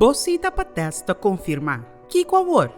Bo sita pa tèst ta konfirmá. Kiko awor?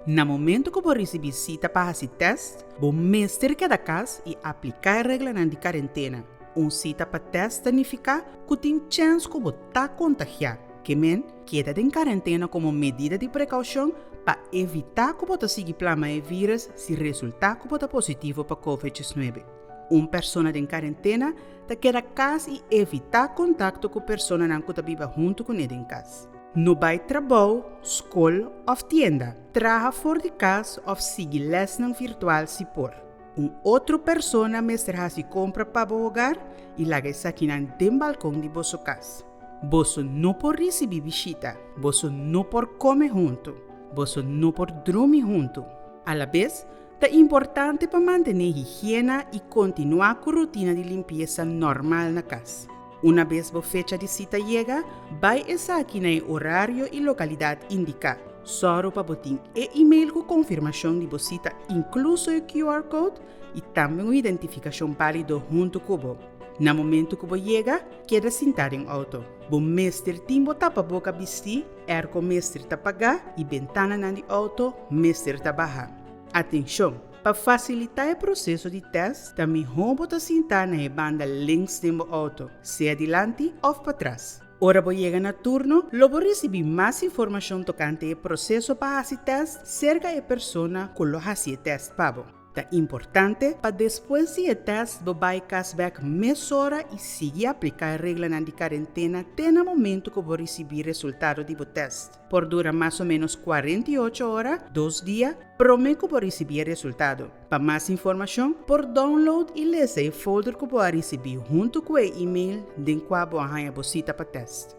Na momentu ku bo risibí sita pa hasi tèst, bo mester keda kas i apliká e reglanan di karentena. Un sita pa tèst ta nifiká ku tin chèns ku bo ta kontagiá. Ke men, keda den karentena komo medida di prekaushon pa evitá ku bo ta sigui plama e vírus si resultá ku bo ta positivo pa Covid 19. Un persona den karentena ta keda kas i evitá kontakto ku personanan ku ta biba huntu ku ne den kas. No bai trabou, skol òf tienda. Traha for di kas òf sigui lèsnan virtual si por. Un otro persona mester hasi kompra pa bo hogar i laga esakinan den balkon di boso kas. Boso no por risibí bishita, boso no por kome huntu, boso no por drumi huntu. Alabes, Ta importante pa mantené higiena i kontinuá ku rutina di limpiesa normal na kas. Una bes bo fecha di sita yega, bai esaki na e orario i lokalidat indiká. Sòru pa bo tin e email ku konfirmashon di bo sita inkluso e QR code i tambe un identifikashon bálido huntu ku bo. Na momentu ku bo yega, keda sintá den outo. Bo mester tin bo tapaboka bistí, airco mester ta pagá i bentananan di outo mester ta baha. Atenshon! Pa fasilitá e proseso di tèst, ta mihó bo ta sintá na e banda links den bo outo, sea dilanti òf patras. Ora bo yega na turno, lo bo risibí mas informashon tokante e proseso pa hasi tèst serka e persona ku lo hasi e tèst pa bo. Ta importante pa despues di e tèst bo bai kas bèk mesora i sigui apliká e reglanan di karentena te na momentu ku bo risibí resultado di bo tèst. Por dura mas o ménos kuarenta i ocho ora, dos dia, promé ku bo risibí e resultado. Pa mas informashon, por download i lesa e folder ku bo a risibí huntu ku e email den kua bo a haña bo sita pa tèst.